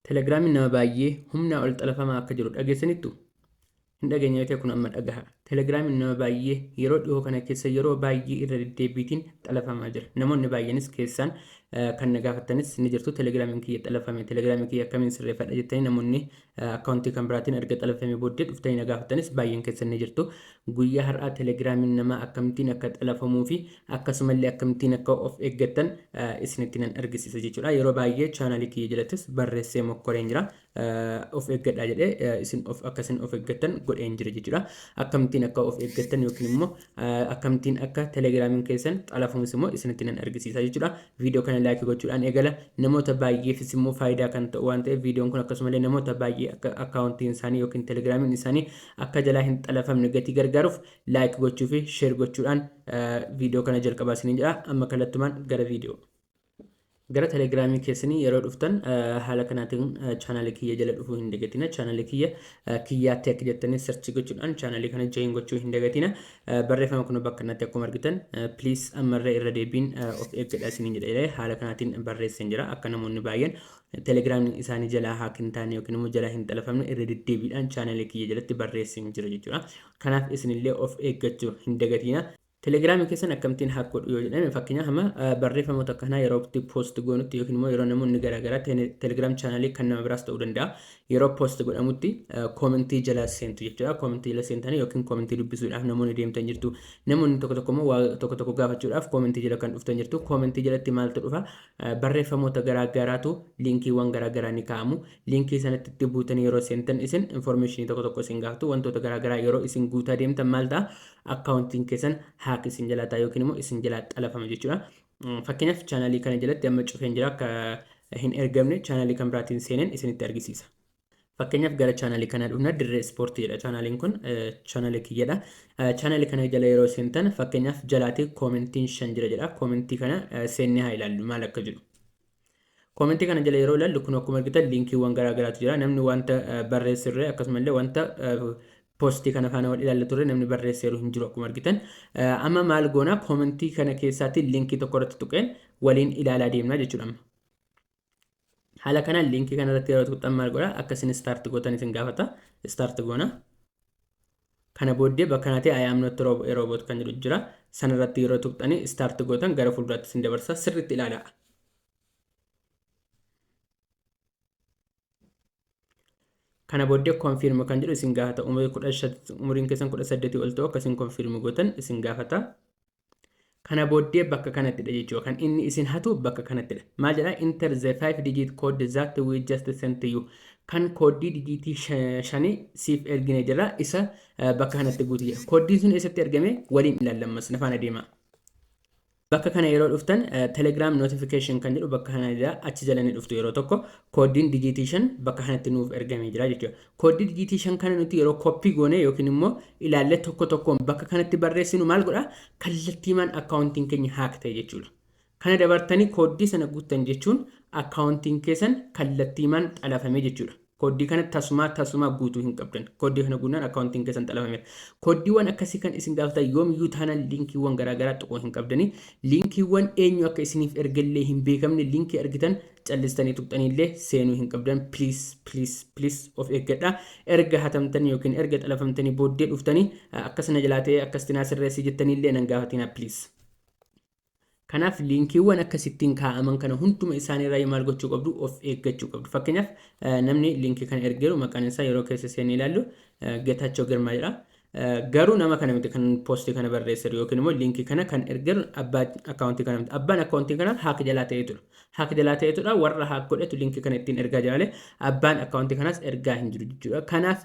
Telegramiin nama baay'ee humnaa ol xalafamaa akka jiru dhageessanittu? Hin dhageenye yoo ta'e kun amma dhagaha. Telegramiin nama baay'ee yeroo dhihoo kana keessa yeroo baay'ee irra deddeebiitiin xalafamaa jira. Namoonni baay'eenis keessaan kan na gaafattanis ni jirtu. Telegramiin kiyya xalafame. Telegramiin kiyya akkamiin sirreeffadha jettanii namoonni akkaawuntii kan biraatiin erga xalafame booddee dhuftanii na gaafattanis baay'een keessan ni jirtu. Guyyaa har'aa telegramiin nama akkamittiin akka xalafamuu fi Akkasumallee akkamittiin akka of eggattan isinitti nan argisiisa jechuudha. Yeroo baay'ee chaanaalii kiyya jalattis barreessee mokkoreen jira. Of eggadhaa jedhee isin of akka isin of eggattan godheen jira jechuudha. Akkamittiin akka of eggattan yookiin immoo akkamittiin akka telegiraamiin keessan xalafuunis immoo isinitti nan argisiisa jechuudha. Viidiyoo kana laayikii gochuudhaan eegala. Namoota baay'eefis immoo faayidaa kan ta'u waan ta'eef viidiyoon kun akkasumallee namoota baay'ee akka akkaawuntiin isaanii yookiin telegiraamiin isaanii akka jalaa hin xalafamne gatii gargaaruuf like gochuu fi share gochuudhaan viidiyoo kana jalqabaa isiniin jedha amma kallattumaan gara viidiyoo gara telegiraamii keessanii yeroo dhuftan haala kanaatiin chaanaalii kiyya jala dhufuu hin dagatina chaanaalii kiyya kiyyaa teek jettanii sarchii gochuudhaan chaanaalii kana join gochuu hin dagatina barreeffama kun bakka kanatti akkuma argitan please ammarree irra deebiin of eeggadha isiniin jedha haala kanaatiin barreesseen jira akka namoonni baay'een telegiraamii isaanii jalaa haak hin taane yookiin immoo jalaa hin xalafamne irra deddeebiidhaan chaanaalii kiyya jalatti barreesseen jira jechuudha Kanaaf isinillee of eeggachuu hin dagatiina. Telegram keessan akkamittiin hack godhu yoo jedhame fakkeenyaaf amma barreeffamoota akka kanaa yeroo itti post goonutti yookiin immoo yeroo namoonni garaagaraa telegram chaanalii kan nama biraas ta'uu danda'a yeroo post godhamutti koomentii jala seentu jechuudha koomentii jala seentanii yookiin koomentii dubbisuudhaaf namoonni deemtan jirtu namoonni tokko tokko immoo waa tokko tokko gaafachuudhaaf koomentii jala kan dhuftan jirtu koomentii jalatti maaltu dhufa barreeffamoota garaagaraatu liinkiiwwan garaagaraa ni kaa'amu Linkii sana itti buutanii yeroo seentan isin information tokko tokko isin gaafatu wantoota garaa garaa yeroo isin guutaa deemtan maal ta'a akkaawuntiin keessan haak isin jalaa ta'a yookiin immoo isin jalaa xalafama jechuudha. Fakkeenyaaf chaanaalii kana jalatti amma cufeen jira akka hin ergamne chaanaalii kan biraatiin seeneen isinitti argisiisa. Fakkeenyaaf gara chaanaalii kanaa dhufna dirree ispoortii jedha chaanaaliin kun chaanaalii kiyyadha. Chaanaalii kana jala yeroo seentan fakkeenyaaf jalaatii koomentiin shan jira jedha koomentii kana seennee haa ilaallu maal akka jedhu. Comment kana jala yeroo ilaallu kun akkuma argitan linkiiwwan garaa garaatu jira. Namni wanta barreessurre akkasumallee wanta poostii kana faana wal ilaalla turre namni barreesseeru hin jiru akkuma argitan. Amma maal goona koomentii kana keessaatti linkii tokko irratti tuqeen waliin ilaalaa deemna jechuudha amma. Haala kanaan linkii kana irratti yeroo tuqxan maal godha akka isin start gootan isin gaafata. Start goona. Kana booddee bakka kanati I am not rob a robot kan jedhu jira. Sana irratti yeroo tuqxani start gootan gara fuulduraatti isin dabarsa. Sirriitti ilaalaa. Kana booddee confirm kan jedhu isin gaafata. Umuriin keessan 18 ol ta'u akka isin confirm gootan isin gaafata. Kana booddee bakka kanattidha jechuudha. Kan inni isin hatu bakka kanattidha. Maal jedha? Enter the 5 digit code that we just sent to you. Kan kooddii dijiitii sha- shanii siif ergine jira isa eh, bakka kanatti guuti jedha. Kooddiin sun eessatti ergame waliin ilaallammas na faana deema. Bakka kana yeroo dhuftan eh, Telegram notification kan jedhu bakka kana jira achi jala ni dhuftu yeroo tokko kooddiin dijiitii shan bakka kanatti nuuf ergamee jira jechuudha. Kooddi dijiitii 5 kana nuti yeroo koppii goonee yookiin immoo ilaallee tokko tokkoon bakka kanatti barreessinu maal godha? Kallattiimaan akkaawuntiin keenya haak ta'e jechuudha. Kana dabartanii kooddii sana guuttan jechuun akkaawuntiin keessan kallattiimaan xalafame jechuudha. Kooddii kana tasumaa tasumaa guutuu hin qabdan. Kooddii kana guunnaan akkaawuntiin keessan xalafameera. Kooddiiwwan akkasii kan isin gaafatan yoomiyyuu taanaan liinkiiwwan garaagaraa tuquu hin qabdanii. Liinkiiwwan eenyu akka isiniif ergellee hin beekamne liinkii argitan callistanii tuqxanii illee seenuu hin qabdan please please please of eeggadha erga hatamtanii yookiin erga xalafamtanii booddee dhuftanii akkas na jalaa ta'ee akkas tinaa sirreessii jettanii illee nan gaafatinaa please. Kanaaf liinkiiwwan akkasittiin kaa'aman kana hunduma isaaniirraa maal gochuu qabdu of eeggachuu qabdu. Fakkeenyaaf namni liinkii kana ergeeru maqaan isaa yeroo keessa seennee ilaallu Geetaachoo Girmaa jedha. Garuu nama kana miti kan posti kana barreesseru yookiin immoo linkii kana kan ergeru abbaa akkaawuntii kana miti. Abbaan akkaawuntii kanaa haak jalaa ta'eetudha. Haak jalaa ta'eetudha warra haak godhetu linkii kana ittiin ergaa jira malee abbaan akkaawuntii kanaas ergaa hin jiru jechuudha. Kanaaf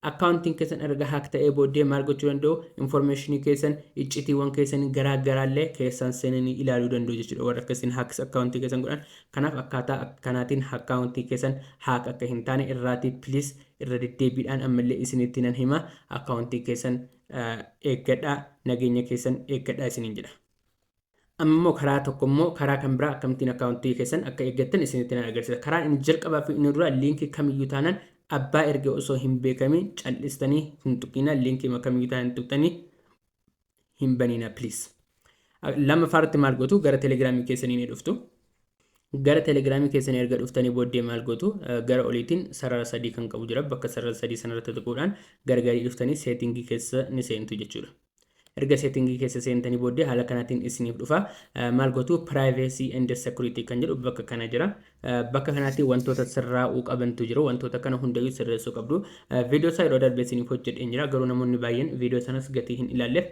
akkaawuntiin keessan erga haak ta'ee booddee maal gochuu danda'u? Infoormeeshinii keessan iccitiiwwan keessanii garaa garaallee keessaan seenanii ilaaluu danda'u jechuudha warra akka isin haaks akkaawuntii keessan godhan. Kanaaf akkaataa kanaatiin akkaawuntii keessan haak akka hin taane irraatii please Irra deddeebiidhaan ammallee isinitti nan hima, akkaawuntii keessan eeggadhaa, nageenya keessan eeggadhaa isiniin jedha. Amma immoo karaa tokko immoo karaa kan biraa akkamittiin akkaawuntii keessan akka eeggattan isinitti nan agarsiisa. Karaan inni jalqabaa fi inni duraa liinkii kamiyyuu taanaan abbaa erge osoo hin beekamiin cal'istanii hin tuqinaa liinkii kamiyyuu taanaan hin tuqxanii hin banina please. Lammaffaa irratti maal gootu gara telegiraamii keessanii ni dhuftu. Gara telegiraamii keessanii erga dhuftanii booddee maal gootu gara oliitiin sarara sadii kan qabu jira bakka sarara sadii sanarratti tuquudhaan gargarii dhuftanii seetingii keessa ni seentu jechuudha. Erga seetingii keessa seentanii booddee haala kanaatiin isiniif dhufa maal gootu privacy and security kan jedhu bakka kana jira Bakka kanatti wantoota sirraa'uu qabantu jiru. Wantoota kana hundayyuu sirreessuu qabdu. Viidiyoo isaa yeroo darbe isiniif hojjedheen jira. Garuu namoonni baay'een viidiyoo sanas gatii hin ilaalleef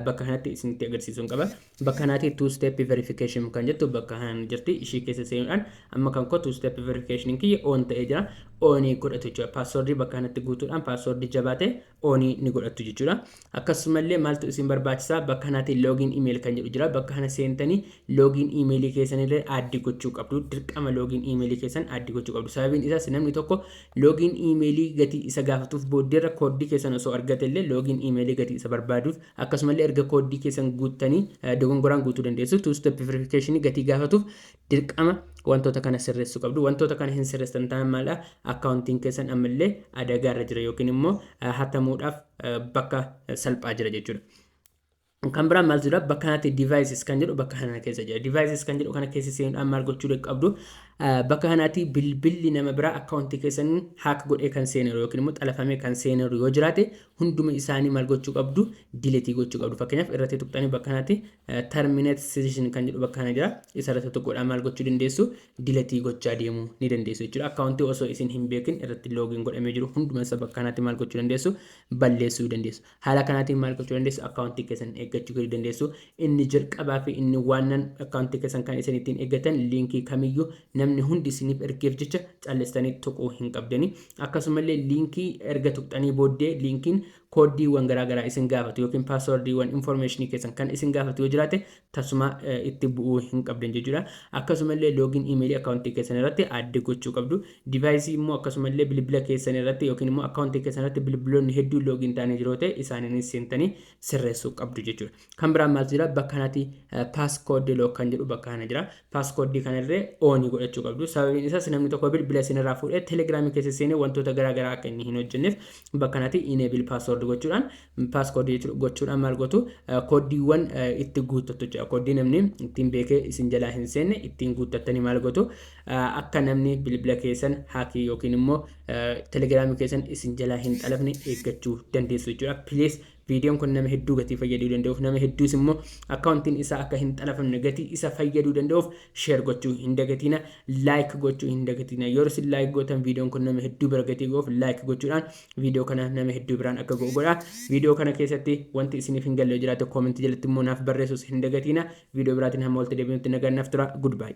bakka kanatti isinitti agarsiisuun qaba. Bakka kanatti two step verification kan jettu bakka kanaan jirti. Ishii keessa seenuudhaan amma kan koo two step verification kiyya on ta'ee jira. Onii godhatu jechuudha. Paaswordii bakka kanatti guutuudhaan paaswordii jabaate oonii ni godhattu jechuudha. Akkasumallee maaltu isin barbaachisa bakka kanaatiin loogiin imeeyil kan jedhu jira. Bakka kana seentanii loogiin imeeyilii keessanillee aaddi gochuu qabdu. Dirqama loogiin imeeyilii keessan aaddi gochuu qabdu. Sababiin isaas namni tokko loogiin imeeyilii gatii isa gaafatuuf booddeerra kooddii keessan osoo argatellee loogiin imeeyilii gatii isa barbaaduuf akkasumallee erga kooddii keessan guuttanii dogongoraan guutuu dandeessu. Two step verification gatii gaafatuuf Dirqama wantoota kana sirreessuu qabdu. Wantoota kana hin sirreessan ta'an maal akkaawuntiin keessan ammallee adagaa irra jira yookiin immoo hatamuudhaaf bakka salphaa jira jechuudha. Kan biraa maal jira bakka kanatti devices kan jedhu bakka kana keessa jira. Devices kan jedhu kana keessa seenuudhaan maal gochuu qabdu bakka kanatti bilbilli nama biraa akkaawuntii keessan haak godhee kan seeneru yookiin immoo xalafamee kan seeneru yoo jiraate hunduma isaanii maal gochuu qabdu diletii gochuu qabdu. Fakkeenyaaf irratti tuqxanii bakka kanatti terminate session kan jedhu bakka kana jira isa irratti tokkodhaan maal gochuu dandeessu diletii gochaa deemuu ni dandeessu jechuudha akkaawuntii osoo isin hin beekin irratti loogiin godhamee jiru hunduma isa bakka kanatti maal gochuu dandeessu balleessuu dandeessu haala kanaatiin maal gochuu dandeessu akkaawuntii keessan eeggachuu gadi dandeessu inni jalqabaa fi inni waannan akkaawuntii keessan kan isin ittiin eeggatan liinkii kamiyyuu namni hundi isiniif ergeef jecha callistanii tuquu hin qabdanii akkasumallee liinkii erga tuqxanii booddee liinkiin kooddiiwwan garaa garaa isin gaafatu yookiin paaswardiiwwan infoormeeshinii keessan kan isin gaafatu yoo jiraate tasuma itti bu'uu hin qabdan jechuudha. Akkasumallee loogiin iimeelii akkaawuntii keessan irratti aadde gochuu qabdu. Divaayisii immoo akkasumallee bilbila keessan irratti yookiin immoo akkaawuntii keessan irratti bilbiloonni hedduun loogiin ta'anii jiru yoo ta'e isaaniinis seentanii sirreessuu qabdu jechuudha. Kan biraan maaltu jira? Bakka kanatti passcode lock kan jedhu bakka kana jira. Passcode kana irree on godhachuu qabdu. Sababiin isaas namni tokko bilbila isin irraa fuudhee Telegram keessa seenee wantoota garaa garaa akka inni hin hojjenneef bakka kanatti enable password gochuudhaan passcode gochuudhaan maal gootu kooddiiwwan itti guuttattu jechuudha. Kooddii namni ittiin beekee isin jalaa hin seenne ittiin guuttattanii maal gootu akka namni bilbila keessan haakii yookiin immoo Telegram keessan isin jalaa hin xalafne eeggachuu dandeessu jechuudha. Please Viidiyoon kun nama hedduu gatii fayyaduu danda'uuf nama hedduus immoo akkaawuntiin isaa akka hin xalafamne gatii isa fayyaduu danda'uuf sheer gochuu hin dagatiina laayik gochuu hin dagatiina yeroo isin laayik gootan viidiyoon kun nama hedduu bira gatii ga'uuf laayik gochuudhaan viidiyoo kana nama hedduu biraan akka ga'u godha viidiyoo kana keessatti wanti isiniif hin galle jiraate koomentii jalatti immoo naaf barreessuus hin dagatiina viidiyoo biraatiin hamma walitti deebinutti nagaan naaf tura goodbye.